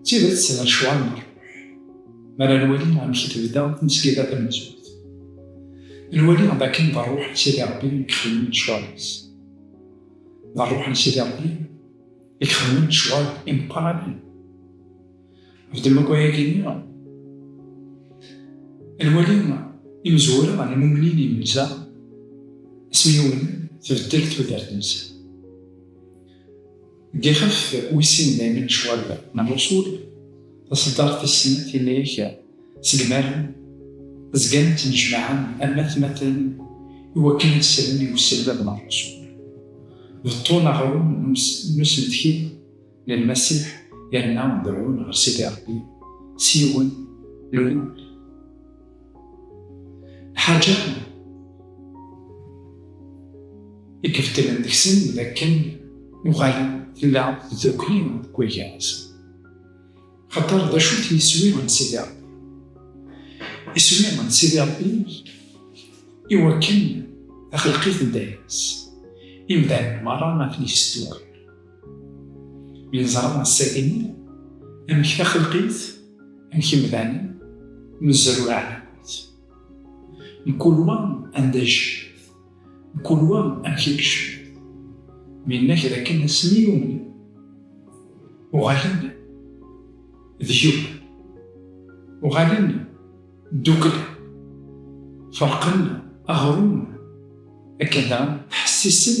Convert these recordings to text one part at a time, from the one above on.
D tidet necwammer mi ara nwali amek i tebda tmesgida tamenzut. Nwali d akken d rruḥ n Sidi Ṛebbi i ixeddmen lecɣal-is. D rruḥ n Sidi Ṛebbi i ixeddmen lecɣal imeqqranen. Ɣef ddemma n wayagi-nni, nwali imezwura n yimumnin n yimenza asmi umnen tbeddel tudert-nsen. Dixeft wis sin daymi lecɣal n Luṣul, taṣeddart tis snat yella-ak segmaren, zgan ttnejmaɛen am atmaten iwakken ad slen i uselmad n Luṣul. Beṭṭun aɣrum n usmetki n Lmasiḥ yerna berrun ɣer Sidi Ṛebbi s yiwen n lmul. Ḥaǧa i ibeddlen deg-sen d akken uɣalen tella tdukli deg wagan-nsen. Xaṭer d acu-t yiswi n Sidi Ṛebbi? Iswi n Sidi Ṛebbi i wakken texleq-it dayem-is, imdanen merra ad ten-yesdukkel. Yeẓra assagen, amek taxelqit, amek imdanen, mezruɛ akkit. Mkul wa anda yecbet, mkul wa amek i yecbet. Mi yenna kra kan asmi yumen, uɣalen d yiwen, uɣalen ddukla, ferqen aɣrum akken daɣen ttḥessisen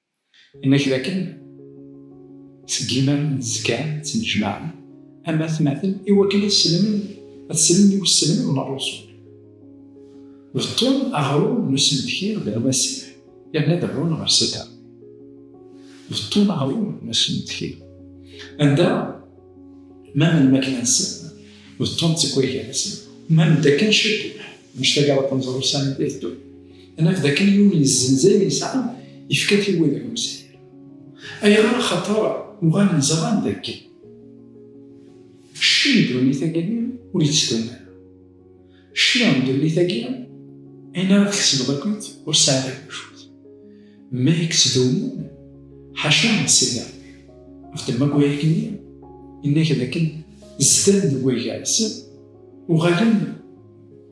Inna-k dakken seg iman n tzekka ttnejmaɛen am atmaten i wakken ad sselmen ad sselmen i usselmed n Rrusul. Beṭṭun aɣrum n usmedki d lwasiɛ yerna deɛɛun ɣer Sita. Beṭṭun aɣrum n usmedki anda ma n lmakla-nsen beṭṭun d tekwayga-nsen ma n takka n cedduḥ, mac tagraḍt n ẓrusan i d-iteddun. Anaf dakken Yuba yessenz ayen yesɛa, yefka-t i wid ur nesɛi ara. Ayɣer? Axaṭer uɣalen ẓran dakken cci n ddunit-agi ur yettdum ara. Cci n ddunit-agi, ayen ara tkesbeḍ akkit, ur tesɛiḍ ara lmut. Ma yettdumun, ḥaca Sidi Rebbi, ɣef ddemma n wayagi-nni, yenna-ak dakken zdan deg waygar-nsen, uɣalen.